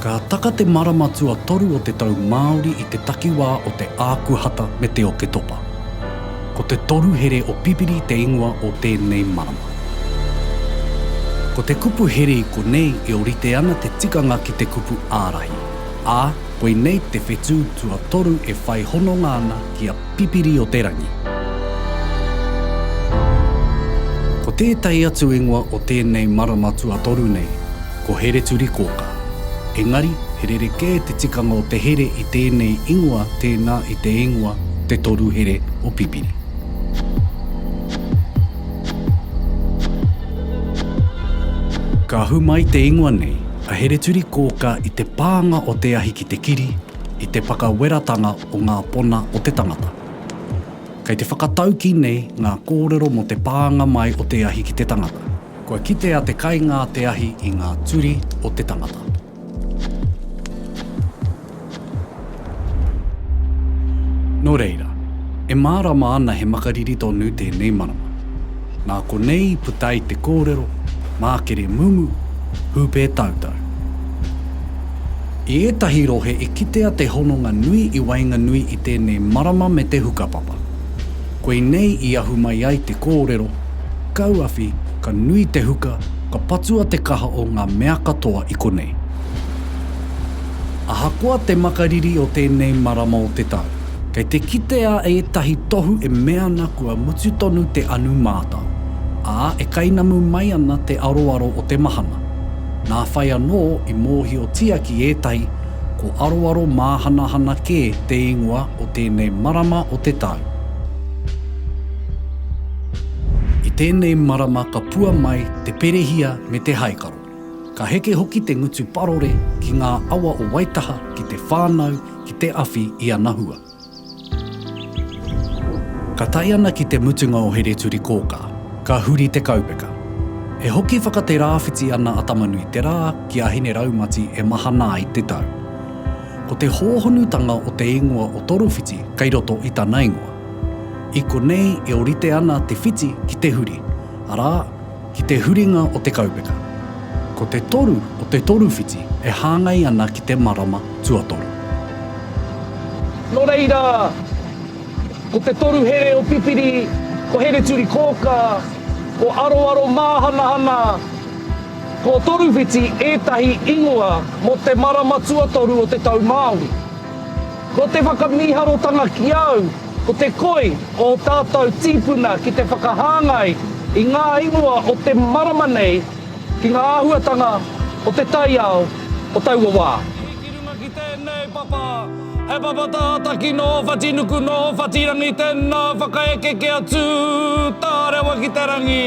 Ka taka te marama tuatoru o te tau Māori i te takiwā o te Ākuhata me te Oketopa. Ko te toru here o Pipiri te ingoa o tēnei marama. Ko te kupu here i konei e orite ana te tikanga ki te kupu ārahi, ā, koinei te whetū tuatoru e whai hononga ana ki a Pipiri-o-te-rangi. Ko tētahi atu ingoa o tēnei marama tuatoru nei, Ko Hereturikōka. Engari, he rerekē te tikanga o te here i tēnei ingoa tēnā i te ingoa Te Toru Here o Pipiri. Ka ahu mai te ingoa nei, a Hereturikōka i te pānga o te ahi ki te kiri, i te whakaweratanga o ngā pona o te tangata. Kei te whakataukī nei ngā kōrero mō te pānga mai o te ahi ki te tangata. Kua kitea te kainga te ahi i ngā turi o te tangata. Nō reira, e mārama ana he makariri tonu tēnei marama. Nā konei i puta ai te kōrero, mākere mumu, hūpē tautau. I ētahi rohe i kitea te hononga nui i waenganui i tēnei marama me te hukapapa. Koinei i ahu mai ai te kōrero, Kauawhi, ka nui te huka, ka patua te kaha o ngā mea katoa i konei. Ahakoa te makariri o tēnei marama o te tau, kei te kitea ētahi tohu e mea ana kua mutu tonu te anu mātao, ā, e kainamu mai ana te aroaro o te mahana. Nā whai anō i mōhiotia ki ētahi ko aroaro māhanahana kē te ingoa o tēnei marama o te tau. I tēnei marama ka pua mai te perehia me te haikaro. Ka heke hoki te ngutu parore ki ngā awa o Waitaha ki te whānau ki te awhi i ana hua. Ka tae ana ki te mutunga o Hereturikōkā, ka huri te kaupeka. E hoki whakaterāwhiti ana a Tamanuiterā ki a Hineraumati e mahana ai te tau. Ko te hōhonutanga o te ingoa o Torowhiti kei roto i tana ingoa. I konei e orite ana te whiti ki te huri, arā, ki te huringa o te kaupeka. Ko te toru o te toru whiti e hāngai ana ki te marama tuatoru. Nō reira, ko te toru here o Pipiri, ko Hereturikōkā, ko Aroaro Māhanahana. Ko Toruwhiti ētahi ingoa mō te marama tuatoru o te tau Māori. Ko te whakamīharotanga ki au ko te koi o ō tātou tīpuna ki te whakahāngai i ngā ingoa o te marama nei ki ngā āhuatanga o te taiao o taua wā. Ki runga ki tēnei papa, he papa tātaki nō Whatinuku, nō Whatirangi, tēnā whakaeke kia tū tārewa ki te rangi.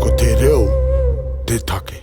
Ko te reo te take.